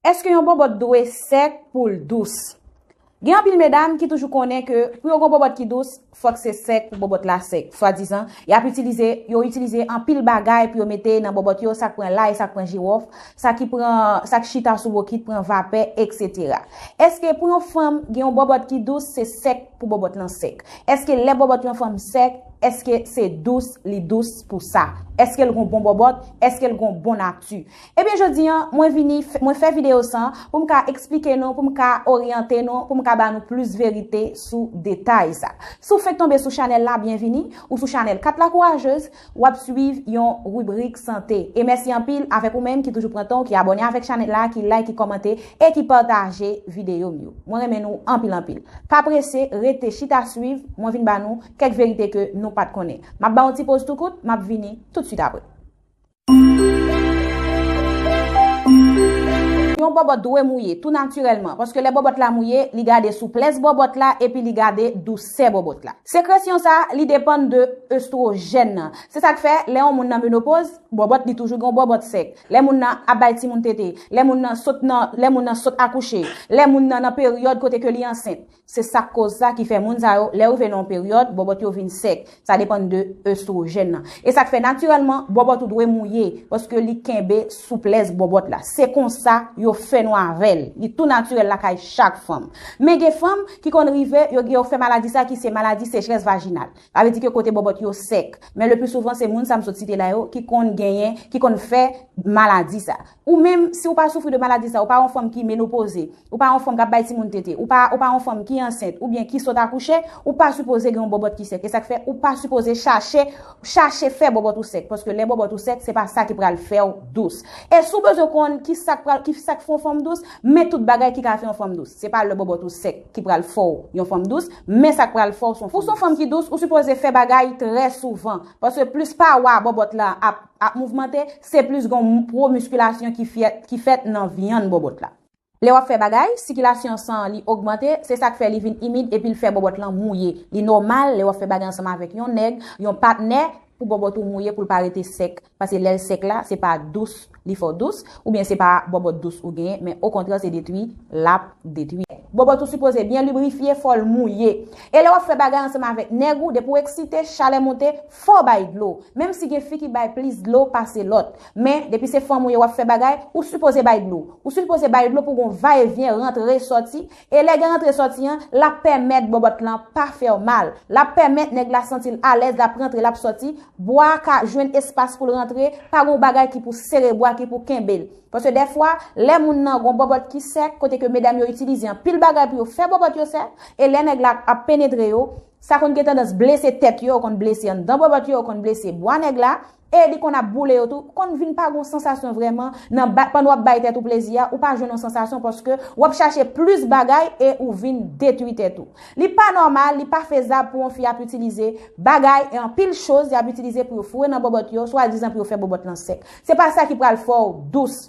Eske yon bòbòt dwe sèk pou l dous? Gen anpil medam ki toujou konnen ke pou yo gon bòbòt ki dous, fòk se sèk pou bòbòt la sèk. Swadizan, yap itilize, yo itilize anpil bagay pou yo mete nan bòbòt yo, sak pran lay, sak pran jiwòf, sa ki pran, sa k chita sou bokit pran vapè, etc. Eske pou yon fanm gen yon bòbòt ki dous, se sèk pou bòbòt lan sèk? Eske lè bòbòt yon fanm sèk, eske se dous li dous pou sa? Eske l gon bon bòbòt? Eske l gon bon nati? Ebyen jodi an mwen vini mwen fè video sa pou m ka eksplike nou pou m ka oryante nou pou m ka ba nou plis verite sou detay sa. Si w fenk tonbe sou chanèl la byenvini ou sou chanèl 4 la kourajez w ap swiv yon ribrik sante e mèsi anpil avèk ou menm ki toujou pran tan w ki abòne avèk chanèl la ki like ki kòmante e ki pataje video m yo mwen renmen nou anpil anpil pa prese rete chita swiv mwen vin ba nou kèk verite ke nou pat konnen m ap ba yon ti poz tou kout m ap vini tout swit apre. Yon bòbòt dwe mouye, tou natirèlman, paske lè bòbòt la mouye, li gade souplès bòbòt la epi li gade dousè bòbòt la. Sekresyon sa, li depann de estwojèn nan. Se sa k fè, lè yon moun nan menopoz, bòbòt li toujou gen yon bòbòt sèk. Lè moun nan ap bay timoun tete, lè moun nan sot nan, lè moun nan sot akouche, lè moun nan nan peryòd kote ke li ansent, Se sak koz sa ki fè moun sa yo lè rive nan yon peryòd bòbòt yo vin sèk, sa depann de oestrogèn nan. E sak fè natirèlman bòbòt ou dwe mouye paske li kenbe souplès bòbòt la. Se konsa yo fè nou avèl, li tou natirèl lakay chak fanm. Men gen fanm ki konn rive yo gen yo fè maladi sa ki se maladi sechrès vajinal. Sa vle di ke kote bòbòt yo sèk. Men le pli souvan se moun sa m sot site la yo ki konn genyen, ki konn fè maladi sa. Ou menm, si ou pa soufri de maladi sa, ou pa yon fanm ki menopoze, ou pa yon fanm kap bay timoun tete, ou pa yon fanm ki ansent ou byen ki sot akouche, ou pa sipoze gen yon bòbòt ki sèk. E sak fè ou pa sipoze chache, chache fè bòbòt ou sèk. Paske lè bòbòt ou sèk, se pa sa ki pral fèw dous. E si w bezwen konn ki sak pral, ki sak fè yon fanm dous, men tout bagay ki ka fè yon fanm dous. Se pa lè bòbòt ou sèk ki pral fèw yon fanm dous, men sak pral fèw son fanm dous. Pou son fanm ki dous, ou sipoze fè bagay trè souvan. Paske plis pawa bòbòt la ap. Ap mouvmante, se plis gon pro miskilasyon ki fèt nan vyann bòbòt la. Lè wap fè bagay, sikilasyon san li ogmante, se sak fè li vin imid epil fè bòbòt lan mouye. Li nòmal lè wap fè bagay ansanm avèk yon nèg, yon patnè, pou bòbòt ou mouye poul pa rete sèk, pase lèl sèk la, se pa dous li fè w dous, oubyen se pa bòbòt dous ou genyen, men okontrè se detwi lap detwi. Bòbòt ou sipoze byen librifye, fòl mouye. E lè wap fè bagay ansanm avèk nèg ou, depi w eksite, chalè monte, Fòw bay dlo, menm si gen fi ki bay plis dlo pase lòt. Men, depi se fanm ou ye wap fè bagay, ou sipoze bay dlo. Ou sipoze bay dlo pou gon va e vyen, rantre, sòti. E lè gen rantre sòti an, lap pèmèt bòbòt lan pa fèw mal. Lap pèmèt nèg la santil alèz lap rantre lap sòti, bwa a ka jwenn espas poul rantre, pa gon bagay ki pou sere bwa ki pou kenbel. Paske dèfwa, lè moun nan gon bòbòt ki sèk, kote ke medam yo itilize anpil bagay pou yo fè bòbòt yo sèk, e lè nèg la ap penetre yo, Sa konn gen tandans blese tèt yo, konn blese anndan bòbòt yo, konn blese bwa nèg la, e li konn ap boule yo tou. Konn vin pa gen yon sansasyon vrèman nan ba, pandan w ap bay tèt ou plezi a, ou pa jwenn yon sansasyon paske w ap chache plis bagay e ou vin detwi tèt ou. Li pa nòmal, li pa fezab pou yon fi ap itilize bagay e anpil choz y ap itilize pou yo foure nan bòbòt yo, swadizan pou yo fè bòbòt lan sèk. Se pa sa ki pral fè w dous.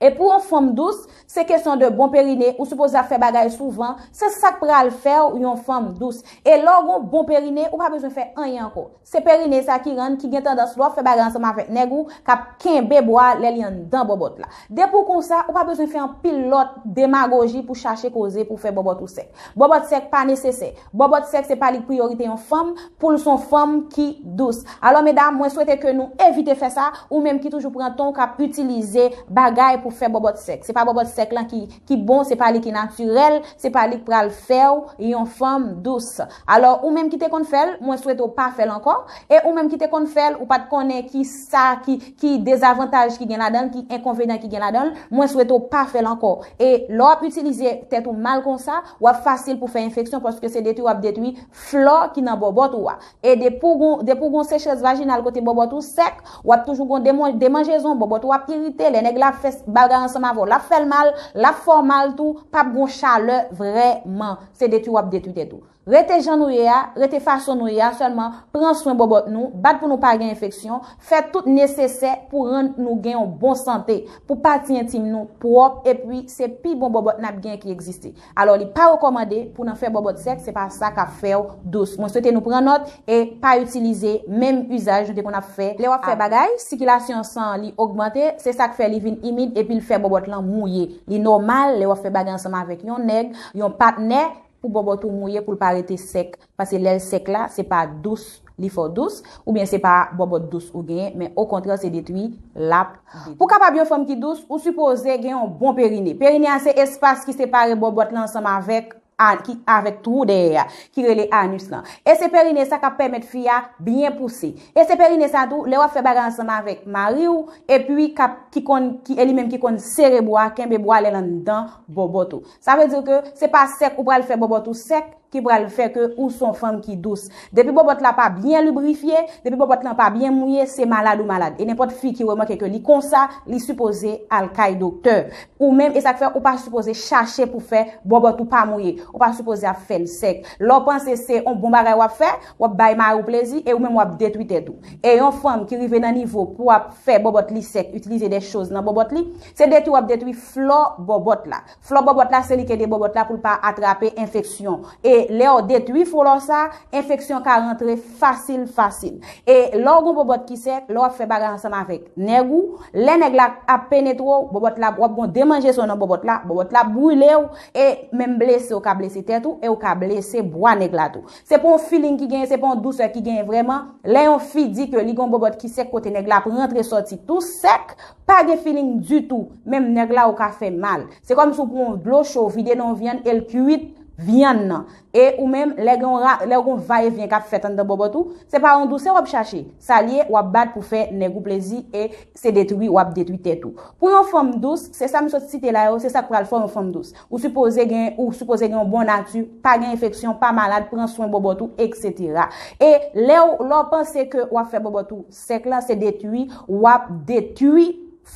E pou yon fanm dous, se kesyon de bon perine, ou sipoze ap fè bagay souvan, se sak pral fèw yon fanm dous. E lèw gon bon perine, ou pa bezwen fè anyen ankò. Se perine sa ki rann ki gen tandans lè wap fè bagay ansanm avèk nèg ou kap kenbe bwa lè li anndan bòbòt la. Depi w konsa, ou pa bezwen fè anpil lòt demagoji pou chache koze pou fè bòbòt ou sèk. Bòbòt sèk pa nesesè. Bòbòt sèk se pa li priyorite yon fanm pou l son fanm ki dous. Alò medam mwen swete ke nou evite fè sa, ou menm ki toujou pran ton w kap itilize bagay pou fè bòbòt sèk. Se pa bòbòt sèk lan ki bon, se pa li ki natirèl, se pa li k pral fè w yon fanm dous. Alò ou menm ki te konn fè l, mwen swete w pa fè l ankò. E ou menm ki te konn fè l, ou pat konnen ki sa ki. ki dezavantaj ki gen ladanl, ki enkonvenan ki gen ladanl, mwen swete w pa fèl ankò. E lè w ap itilize tèt ou mal konsa, w ap fasil pou fè enfeksyon paske se detwi w ap detwi flò ki nan bòbòt ou a. E depi w gon depi w gon sechrès vajinal kote bòbòt ou sèk, w ap toujou gon demon demanjezon, bòbòt ou ap irite, lè nèg la ap fè bagay ansanm avè w l ap fè l mal, l ap fè w mal tou, p ap gon chalè vrèman. Se detwi w ap detwi tèt ou. Rete jan nou ye a, rete fason nou ye a sèlman, pran swen bòbòt nou, bat pou nou pa gen enfeksyon, fè tout nesesè pou rann nou gen yon bon sante, pou pati entim nou pwòp epi se pi bon bòbòt nap gen ki egziste. Alò li pa rekòmande pou nan fè bòbòt sèk se pa sa kap fèw dous. Mwen swete nou pran nòt e pa itilize menm izaj nou te konn ap fè lè wap fè bagay, sikilasyon san an li ogmante se sak fè li vin imid epil fè bòbòt lan mouye. Li nòmal lè wap fè bagay ansanm avèk yon nèg, yon patnè, pou bòbòt ou mouye poul pa rete sèk pase lèl sèk la se pa dous li fè w dous oubyen se pa bòbòt dous ou genyen men okontrè se detwi lap detwi. Pou kapab yon fanm ki dous ou sipoze gen yon bon perine perine a se espas ki separe bòbòt lan ansanm avèk ki avèk twou dèyè a ki rele anus lan e se perine sa kap pèmèt fi a byen pouse e se perine sa tou lè wap fè bagay ansanm avèk mariw epi kap ki konn ki e li menm ki konn sere bwa kenbe bwa lèl anndan bòbòt ou Sa vle di ke se pa sèk ou pral fè bòbòt ou sèk ki pral fè ke ou son fanm ki dous. Depi bòbòt la pa byen librifye, depi bòbòt lan pa byen mouye, se malad ou malad. E nenpòt fi ki remake ke li konsa, li sipoze al kay doktè. Ou menm, e sak fè ou pa sipoze chache pou fè bòbòt ou pa mouye. Ou pa sipoze ap fèl sèk. Lè w panse se yon bon bagay wap fè, wap bay mari w plezi e ou menm wap detwi tèt ou. E yon fanm ki rive nan nivo pou ap fè bòbòt li sèk, itilize de choz nan bòbòt li, Se detwi w ap detwi flò bòbòt la. Flò bòbòt la se li k ede bòbòt la pou l pa atrape enfeksyon. E lè w detwi flò sa, enfeksyon ka rantre fasil fasil. E lè w gen yon bòbòt ki sèk, lè w ap fè bagay ansanm avèk nèg ou, lè nèg la ap penetre w, bòbòt la, w ap gen yon demanjeson nan bòbòt la, bòbòt la ap brile w, e menm blese ou ka blese tèt ou, e ou ka blese bwa nèg la tou. Se pa yon feeling ki genyen, se pa yon dousè ki genyen vrèman. Lè yon fi di ke li gen yon bòbòt ki sèk kote nèg la ap rantre sòti tou sèk, Pa gen feeling ditou, menm nèg la ou ka fè mal. Se kòm si ou pran yon dlo cho ou vide nan yon vyann e l kuit vyann nan. E ou menm, lè gen yon ra, lè gen yon va e vyen k ap fèt anndan bòbòt ou, se pa yon dousè w ap chache. Sa l ye, w ap bat pou fè nèg ou plezi e se detwi w ap detwi tèt ou. Pou yon fanm dous, se sa m sot site la yo, se sa k pral fè w yon fanm dous. Ou sipoze gen, ou sipoze gen yon bon nati, pa gen enfeksyon, pa malad, pran swen bòbòt ou, eksetera. E lè w, lè w panse ke w ap fè bòbòt ou. Sèk la se detwi, wap detwi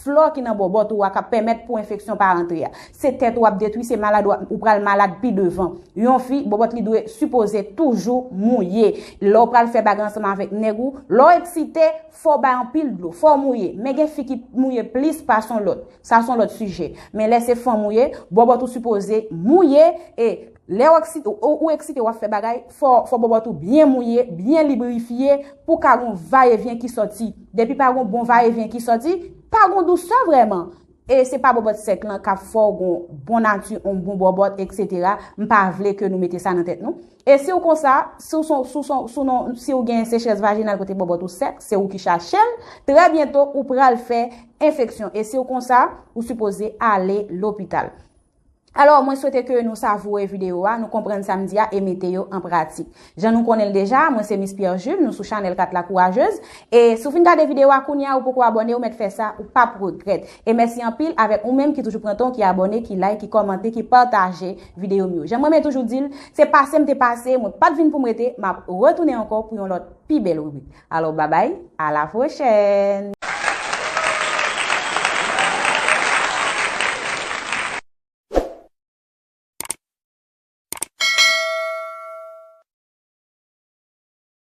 flò ki nan bòbòt ou a kap pèmèt pou enfeksyon pa rantre a. Se tèt ou ap detwi, se malad ou pral malad pi devan. Yon fi, bòbòt li dwe sipoze toujou mouye. Lè w pral fè bagay ansanm avèk nèg ou, lè w eksite, fò w bay anpil dlo, fò w mouye. Men gen fi ki mouye plis pase yon lòt, sa son lòt sijè. Men lè se fanm ou ye, bòbòt ou sipoze mouye e. Lè ou eksite wap fè bagay, fò bòbòt ou byen mouye, byen librifye pou ka gon va e vyen ki sòti. Depi pa gon bon va e vyen ki sòti, pa gon dousè vrèman. E se pa bòbòt sèk lan kap fè w gon bon nati, on bon bòbòt, eksetera, m pa vle ke nou mete sa nan tèt nou. E si w konsa, si w son, si w gen sechrès vajinal kote bòbòt ou sèk, se ou ki chache l, trè byento ou pral fè enfeksyon. E si w konsa, ou sipoze ale lopital. Alò, mwen swete ke nou savoure video a, nou konprann sa m di a e mete yo an pratik. Jan nou konnen l deja, mwen se Miss Pierre Jules, nou sou chanèl 4 la kourajez. E si w fin gade video a kounye a ou poko abòne ou mèt fè sa, ou p ap regrèt. E mèsi anpil avèk ou menm ki toujou pran tan w ki abòne, ki like, ki kòmante, ki pataje video m yo. Jan m renmen toujou di l, se pase m te pase, mwen pa t vin pou m rete, m ap retounen ankò pou yon lòt pi bèl ribrik. Alò babay, a la pwochèn!